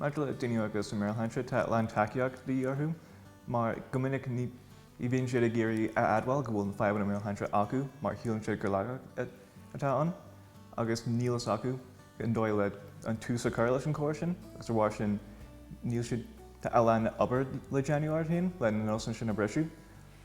Maidir le daoine óga agus a meabhairshláinte tá a lán tacaíocht de dhíth orthu mar go minic ní bhíonn siad ag iarraidh a admháil go bhfuil na fadhbanna meabhairshláinte acu mar shíleann siad gur laigeacht atá ann agus níl fhios acu an dóigh leis an tús a chur leis an chomhrá sin agus de bharr sin níl siad tá a lán obair le déanamh orthu féin leis na nósanna sin a bhriseadh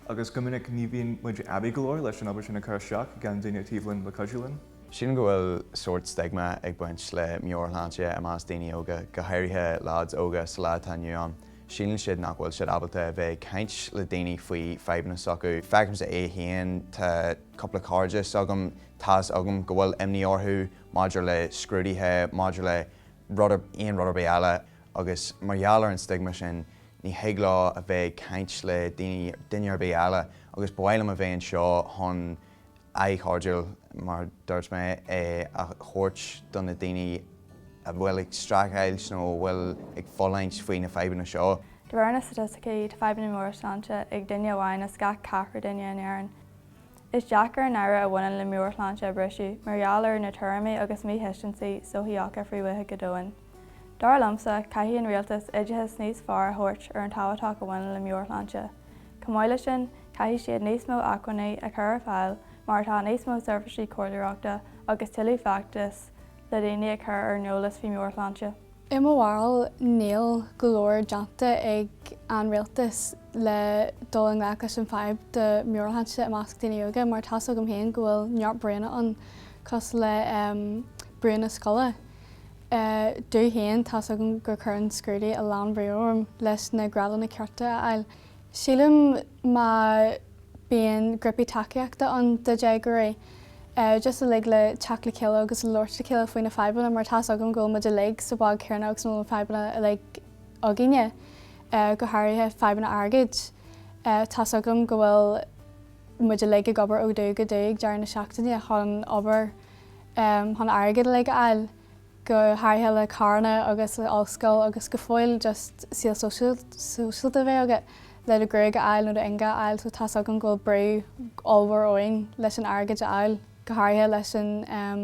agus go minic ní bhíonn muid aibí go leor leis an obair sin a chur isteach gan daoine taobh linn le cuidiú linn. Sílim go bhfuil sórt stigma ag baint le meabhairshláinte i measc daoine óga, go háirithe leaids óga sa lá atá inniu ann. Síleann siad nach bhfuil siad ábalta a bheith ag caint le daoine faoi fadhbanna s'acu. Feicimse é féin, tá. cúpla cairde s'agam, tá's agam go bhfuil imní orthu maidir le scrúduithe, maidir le rud ar, aon rud ar bith eile agus mar gheall ar an stigma sin ní thig leo a bheith ag caint le daoine, duine ar bith eile agus ba mhaith liom a bheith anseo chun aghaidh chairdiúil, mar a dúirt mé, a thabhairt do na daoine a bhfuil ag streachailt nó a bhfuil ag fulaingt faoi na fadhbanna seo. De réir na staitisticí, tá fadhbanna móra sláinte ag duine amháin as gach ceathrar duine in Éirinn. Is deacair an náire a bhaineann le meabhairshláinte a bhriseadh mar gheall ar na tuairimí agus míthuiscintí sochaíocha fréamhaithe go domhain. Dar liomsa, caithfidh an rialtas oideachas níos fearr a thabhairt ar an tábhachtach a bhaineann le meabhairshláinte. Chomh maith le sin, caithfidh siad níos mó acmhainní a chur ar fáil mar atá níos mó seirbhísí comhairleoireachta agus tuilleadh feachtas le daoine a chur ar an eolas faoi meabhairshláinte. I mo bharúil níl go leor déanta ag an rialtas le dul i ngleic leis an fadhb de meabhairshláinte i measc daoine óga mar tá's agam féin go bhfuil neart brúnna ann cosúil le brúnna scoile. Domh féin tá's agam gur cuireann scrúduithe a lán brú orm leis na grádanna cearta a fháil. Sílim má bíonn grupaí tacaíochta ann do dhéagóirí, just uilig le teacht le chéile agus labhairt le chéile faoi na fadhbanna mar tá 's agam go bhfuil muid uilig sa bhád céanna agus go bhfuil na fadhbanna uilig againne, go háirithe fadhbanna airgid. Tá 's agam go bhfuil muid uilig ag obair ó dhubh go dubh ag deireadh na seachtaine chun obair chun airgead uilig a fháil. go háirithe le carranna agus le ollscoil agus go fiú just saol sóisialta a bheith agat le do gruaig a fháil nó do ingne a fháil so tá's agam go bhfuil brú ollmhór orainn leis an airgid a fháil go háirithe leis an ehm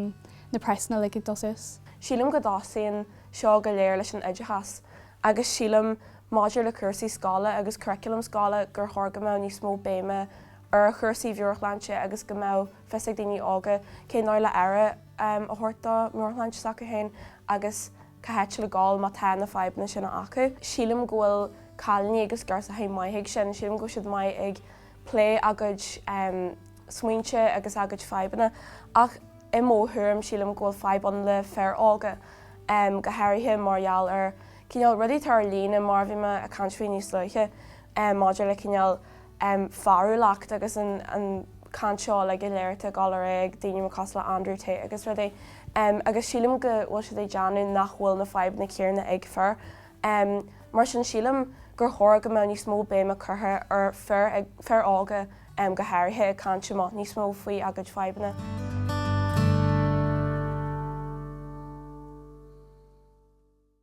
na praghsanna like ag dul suas. Sílim go dtosaíonn seo go léir leis an oideachas agus sílim maidir le cúrsaí scoile agus curriculum scoile gur chóir go mbeadh níos mó béime ar chúrsaí mheabhairshláinte agus go mbeadh fios ag daoine óga cén dóigh le aire a thabhairt do mheabhairshláinte s'acu féin agus cá háit le dul má tá na fadhbanna sin acu. Sílim go bhfuil cailíní agus girseachaí maith ag sin, sílim go bhfuil siad maith ag plé a gcuid smaointe agus a gcuid fadhbanna ach i mo thuairim sílim go bhfuil fadhb ann le fir óga go háirithe mar gheall ar cineál rudaí atá ar líne mar a bhí mé ag caint faoi níos luaithe maidir le cineál an fearúlacht agus an chaint seo uilig a léirítear go láidir ag daoine mar cosúil le Andrew Tate agus rudaí agus sílim go bhfuil siad ag déanamh nach bhfuil na fadhbanna céanna ag fir. Mar sin sílim gur chóir go mbeadh níos mó béime curtha ar fir, fir óga go háirithe, ag caint amach níos mó faoi a gcuid fadhbanna.